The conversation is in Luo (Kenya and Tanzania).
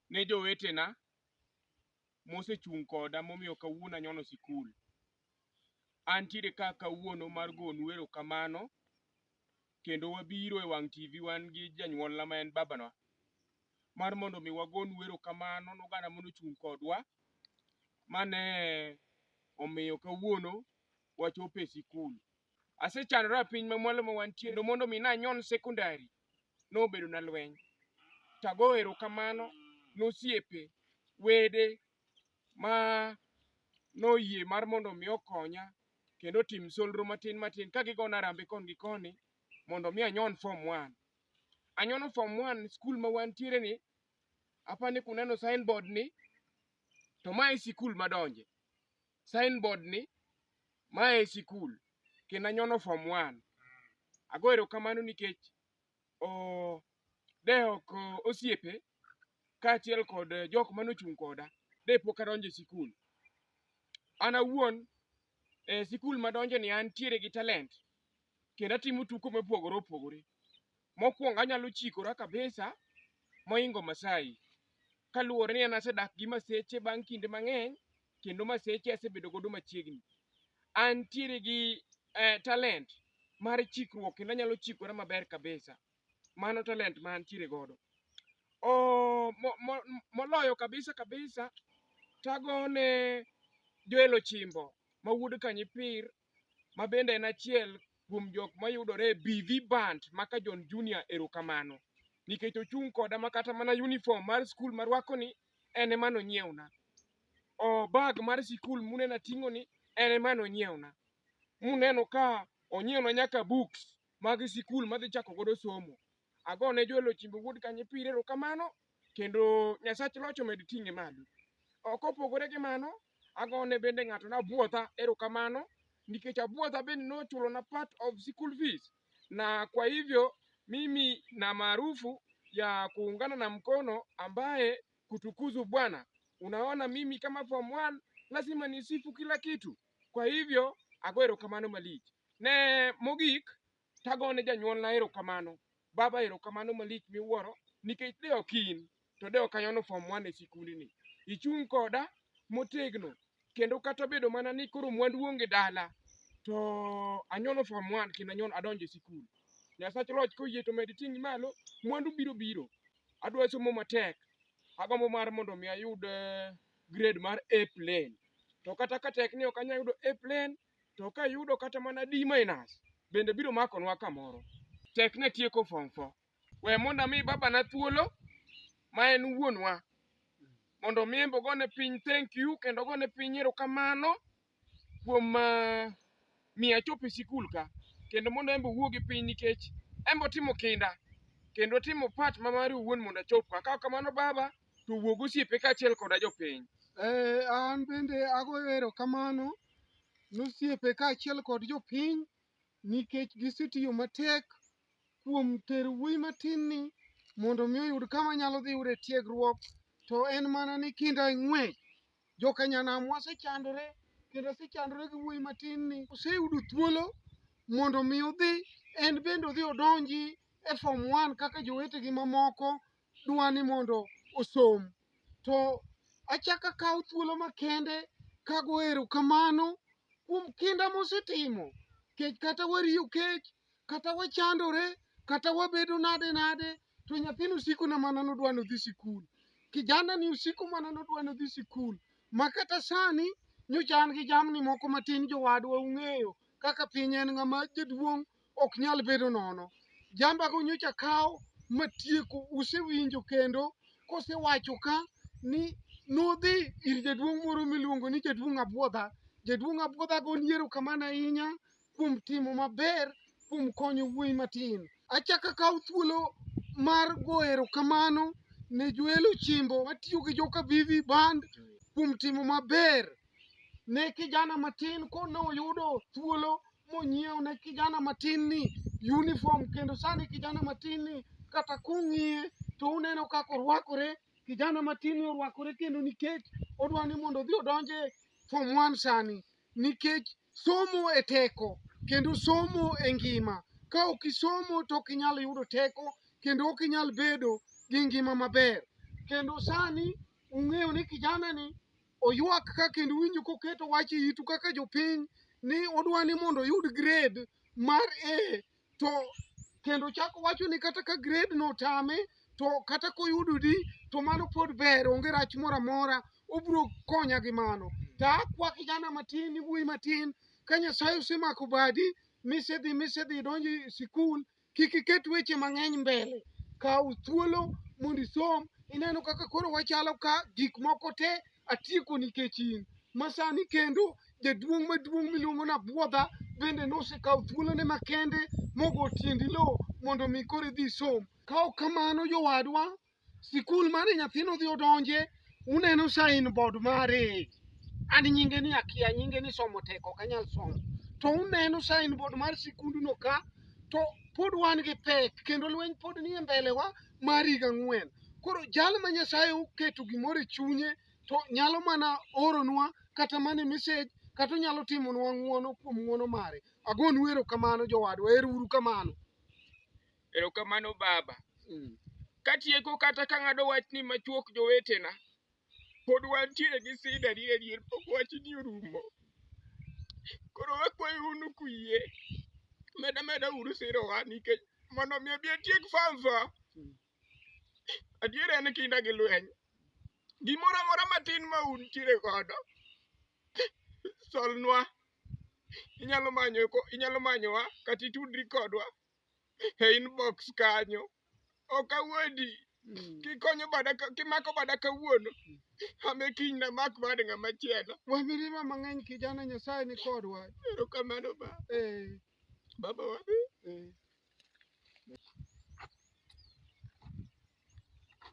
ne jowetena mosechung' koda momiyo kawuono anyono sikul. Antiere ka kawuono mar gonu erokamano kendo wabiro e wang' TV wan gi janyuolna ma en babanwa mar mondo omi wagonu erokamano noganda monochung' kodwa mane omiyo kawuono wachopo e sikul. Asechandora e piny mamwalo ma wantie kendo mondo omi nanyon sekondari nobedo na lweny. To agoyo erokamano ne osiepe, wede ma noyie mar mondo mi okonya kendo otim solro matin matin ka gigona arambe koni gi koni mondo mi anyon form one. Anyono form one skul ma wantiere ni, apani kuneno sign board ni to ma e sikul madonje. signboard ni ma e sikul kendo anyono form one. Ago erokamano nikech o de ok osiepe kaachiel kod jok mane ochung' koda de pok adonjo e sikul. An awuon e sikul madonjeni antiere gi talent kendo atimo tuko mopogore opogore. Mokwongo anyalo chikora kabisa moingo Masai. Kaluwore ni an asedak gi Maseche bang' kinde mang'eny kendo Maseche asebedo godo machiegni. Antiere gi eh, talent mar chikruok kendo anyalo chikora maber kabisa. Mano talent ma antiere godo. Oh, mo, mo, moloyo kabisa kabisa tagone Joel Ochimbo ma wuod Kanyipir ma bende en achiel kuom jok mayudore e BV Band maka John Junior erokamano nikech ochung' koda ma kata mana uniform mar skul marwakoni en ema nonyiewna. O bag mar sikul muneno ating'oni en ema nonyiewna. Muneno ka onyiewna nyaka books mag sikul madhi chako godo somo. Agone Joel Ochimbo Wuod Kanye Pire erokamano kendo Nyasach Loch omed ting'e malo. Ok opogore gi mano, agone bende ng'ato nabuodha erokamano nikech abuodha bende nochulona part of school fees na kwa hivyo mimi na maarufu ya kuungana na mkono ambaye kutukuzu Bwana. Unaona mimi kama form 1 lazima nisifu kila kitu. Kwa hivyo ago erokamano malich. Ne mogik Tago ne janyuolna erokamano. Baba erokamano malich miwuoro nikech de ok in to de ok anyono form one e sikundni. Ichung' koda motegno kendo kata obedo mana ni koro mwandu onge dala to anyono form one kendo anyono adonjo e sikul. Nyasach loch koyie to med ting'i malo, mwandu biro biro. Adwa somo matek, agombo mar mondo mi ayud eh, grade mar A plain. To kata ka tek ni ok anyal yudo A plain, to ka yudo kata mana D minus bende biro makonwa kamoro. Tek ne tieko form four. We mondo ami babana thuolo ma en wuonwa mondo mi embe ogone piny thank you kendo ogone piny erokamano kuom ah, miyo achopo e sikul ka kendo mondo embe owuo gi piny nikech embe otimo kinda kendo otimo part ma mare owuon mondo achop ka. Ka ok kamano baba to wuog osiepe kaachiel koda jopiny. Eh, an bende agoyo erokamano nosiepe kaachiel kod jopiny nikech gisetiyo matek kuom tero wuoyi matinni mondo mi oyud kama nyalo dhi yude tiegruok to en mana ni kinda ng'wech. Jokanyanam wasechandore kendo asechandore gi wuoyi matinni oseyudo thuolo mondo mi odhi en bende odhi odonji e form one kaka jowetegi mamoko dwa ni mondo osom. To achako akawo thuolo makende kago erokamano kuom kinda mosetimo nikech kata wariyo kech, kata wachandore, kata wabedo nade nade to nyathini osikona mana ni odwa ni odhi sikul. Kijanani osiko mana ni odwa ni odhi sikul ma kata sani nyocha an gi jamni moko matin jowadwa ung'eyo kaka piny en ng'ama jaduong' ok nyal bedo nono. Jambago nyocha kawo matieko, usewinjo kendo kosewacho ka ni nodhi ir jaduong' moro miluongo ni jaduong' Abwodha. Jaduong' Abwodhago ni erokamano ahinya kuom timo maber kuom konyo wuoyi matin. Achako akawo thuolo mar go erokamano ne Joel Ochimbo matiyo gi Joka Vivi Band kuom timo maber ne kijana matin ko ne oyudo thuolo monyiewo ne kijana matin ni uniform kendo sani kijana matin ni kata kung'iye to uneno kaka orwakore kijana matin ni orwakore kendo nikech odwa ni mondo odhi odonje form one sani nikech somo e teko kendo somo e ngima ka ok isomo to ok inyal yudo teko kendo ok inyal bedo gi ngima maber kendo sani ung'eyo ni kijana ni Oywak ka kendo winjo koketo wach e itu kaka jopiny ni odwa ni mondo oyud grade mar A to kendo chako wacho ni kata ka grade no otame to kata koyudo D to mano pod ber onge rach moro amora obiro konya gi mano. To akwa kijana matin iwuoyi matin ka Nyasaye osemako badi misedhi misedhi idonjo e sikul kik iket weche mang'eny mbele kaw thuolo mondo isom ineno kaka koro wachalo ka gik moko te atieko nikech in masani kendo jaduong' maduong' miluongo ni abwodha bende nosekawo thuolone makende mogo tiendi lowo mondo mi koro idhi isom kaok kamano jowadwa sikul mane nyathino dhi odonje uneno sign board mare an nyinge ni akia nyinge ni somo tek ok anyal somo to uneno sign board mar sikunduno ka to pod wan gi pek kendo lweny pod nie mbelewa mar higa ang'wen koro jal ma nyasaye oketo gimoro e chunye to nyalo mana oronwa kata mana e message kata onyalo timonwa ng'uono kuom ng'uono mare agonu erokamano jowadwa ero uru kamano Erokamano baba. Mm. Katieko kata ka ng'ado wach ni machuok jowetena, pod wantiere gi sida ni adier pok wachni orumo. Koro wakwayo unu kuyie, meda meda uru sirowa nikech mondo mi abi atiek fanfa. Adier en kinda gi lweny. Gimoro amora matin ma untiere godo, solnwa. Inyalo manyo ko- inyalo manyowa kata itudri kodwa e inbox kanyo ok awuondi kikonyo bada ka- kimako bada kawuono ame kiny namak bad ng'ama chielo Wa mirima mang'eny kijana Nyasaye ni kodwa. erokamano ba Eh, baba wadhi eh.